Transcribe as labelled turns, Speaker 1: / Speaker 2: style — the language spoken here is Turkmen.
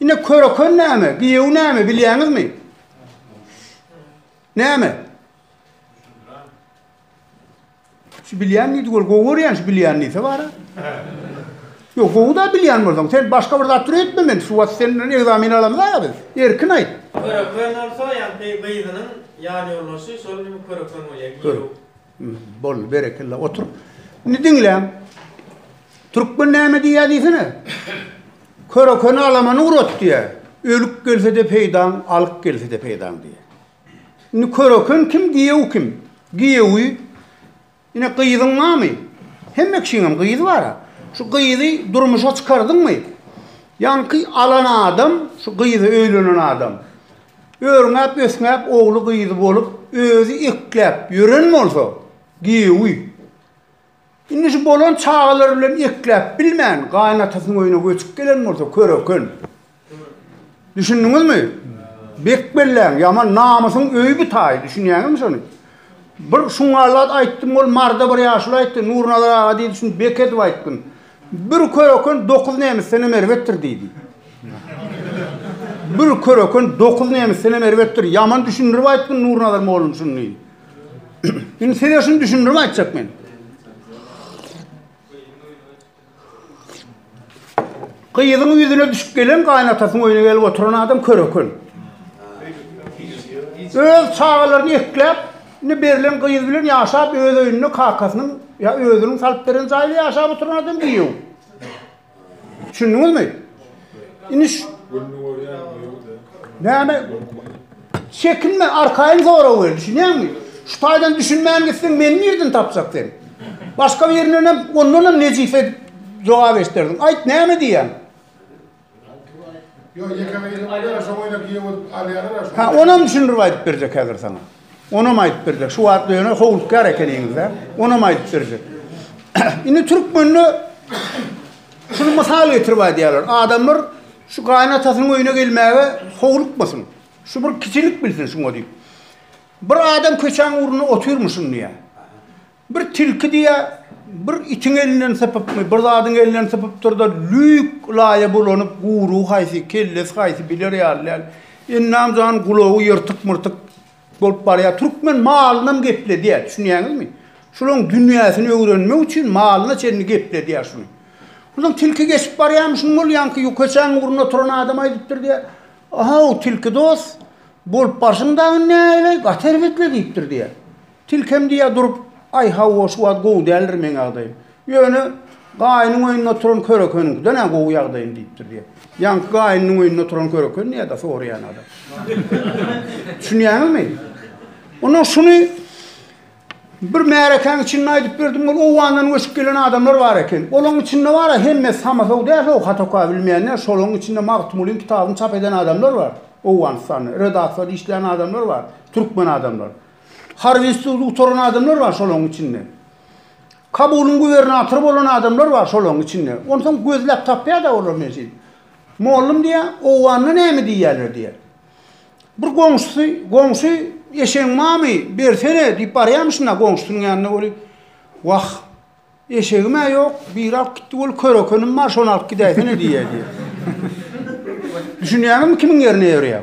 Speaker 1: Ine köröken näme, giýew näme bilýäňizmi? Näme? Şu bilýän diýdi, gör gowy görýän şu bilýän diýse bara. Ýok, gowy da bilýän bolsaň, sen başga bir zat üretme men, şu wagt senden egzamin alamyz-a biz. Erkin aýt. Köröken bolsa, ýagny gyzynyň ýan ýoldaşy şol köröken bolýar, giýew. Boldy berekella otur. Indi diňläň. Türkmen näme diýýär diýsene. Körekeni alamany urat diýýär. Ölüp gelse-de peýdaň, alyp gelse-de peýdaň diýýär. Indi köreken kim, giýew kim? Giýewi ine gyzyň barmy? Hemme kişiňem gyzy bar-a. Şu gyzy durmuşa çykardyňmy? Ýaňky alan adam, şu gyzy öýlenen adam. Örňäp-ösňäp ogly-gyzy bolup, özi ekläp ýören bolsa, giýewi. Indi şu bolan çagalary bilen ekläp bilmän, gaýynatasynyň öýüne göçüp gelen bolsa, köreken. Düşündiňizmi? Bek belläň, ýaman namysyň öýi bu taýy, düşünýäňizmi şony? Bir şuňňallat aýtdym, ol marda bir ýaşuly aýtdy, Nurnazar aga diýdi, şuny bek edip aýtgyn. Bir köröken dokuz nemisdenem erbetdir diýdi. Bir köröken dokuz nemisdenem erbetdir. Ýaman düşündirip aýtdym Nurnazar mollum şuny diýdi. Indi size şuny düşündirip aýtjak men. Gyzyň ýüzüne düşüp gelen gaýnatasyň öýüne gelip oturan adam köröken. Öz çagalaryny ekläp, Indi berlen gyz bilen ýaşap öz öýünde kakasynyň ýa özüniň salyp beren jaýynda ýaşap oturan adam giýew. Düşündiňizmi? Indi şu Gününi görýän giýew-de. Näme? Çekinme, arkaýyn sora welin, düşünýäňmi? Şu taýdan düşünmän gitseň meni nirden tapjak sen? Başga birinden hem ondan hem nejis edip jogap eşderdiň. Aýt, näme diýýäň? Ha, onam düşündirip aýdyp berjek häzir sana. Onam aýdyp berjek. Şu wagt ýöne howlukýar ekeniňiz-de. Onam aýdyp berjek. Indi türkmende şuny mysal getirip aýdýarlar. Adamlar şu gaýynatasynyň öýüne gelmäge howlukmasyn. Şu bir kiçilik bilsin şuňa diýip. Bir adam köçäň ugrunda otyrmyşyn diýýär. Bir tilki diýýä, bir itiň elinden sypypmy, bir zadyň elinden sypypdyr-da, lüýk laýa bulanyp, guýrugy haýsy, kellesi haýsy biler ýaly däl. Ennam jan gulagy ýyrtyk-myrtyk bolup barýar. Türkmen malynam gepledýä, düşünýäňizmi? Şularyň dünýäsini öwrenmek üçin malyna çenli gepledýä şuny. Onsoň tilki geçip barýarmyşyn, ol ýaňky ýukaçaň ugrunda oturan adam aýdypdyr diýýä, A-haw, tilki dost, bolup barşyň dagy näleý, gaty erbetli diýipdir diýýä. Tilkem diýýär durup, Aý, hawa, şu wagt gowy däldir meň ýagdaýym. Ýöne gaýynyň öýünde oturan körekeniňkiden-ä gowy ýagdaýym diýipdir diýýär. Ýaňky gaýynynyň öýünde oturan köreken nädä soraýan adam. Düşünýäňizmi? Ondan şuny bir märekäň içinde aýdyp berdim, ol Owgandan göçüp gelen adamlar bar eken. Olaň içinde bar-a, hemmesi samasow däl-ow, hata-oka bilmeýänler, şolaň içinde Magtymgulyň kitabyny çap eden adamlar bar, Owganystanda, redaksiýada işleýän adamlar bar, türkmen adamlar. Harby ustuny gutaran adamlar bar şolaryň içinde. Kabulyň gubernatory bolan adamlar bar şolaryň içinde. Onsoň gözläp tapýar-da olar neşe. Mollum diýä, owganda näme diýýärler diýä. Bir goňşusy, goňşy eşegiň mamy bersene diýip barýamyşynda goňşusynyň ýanyna weli. Wah, eşegim-ä ýok, biri alyp gitdi weli kör ekenim bar, şony alyp gidäýsene diýýär diýä. Düşünýäňizmi kimiň ýerine ýörýär?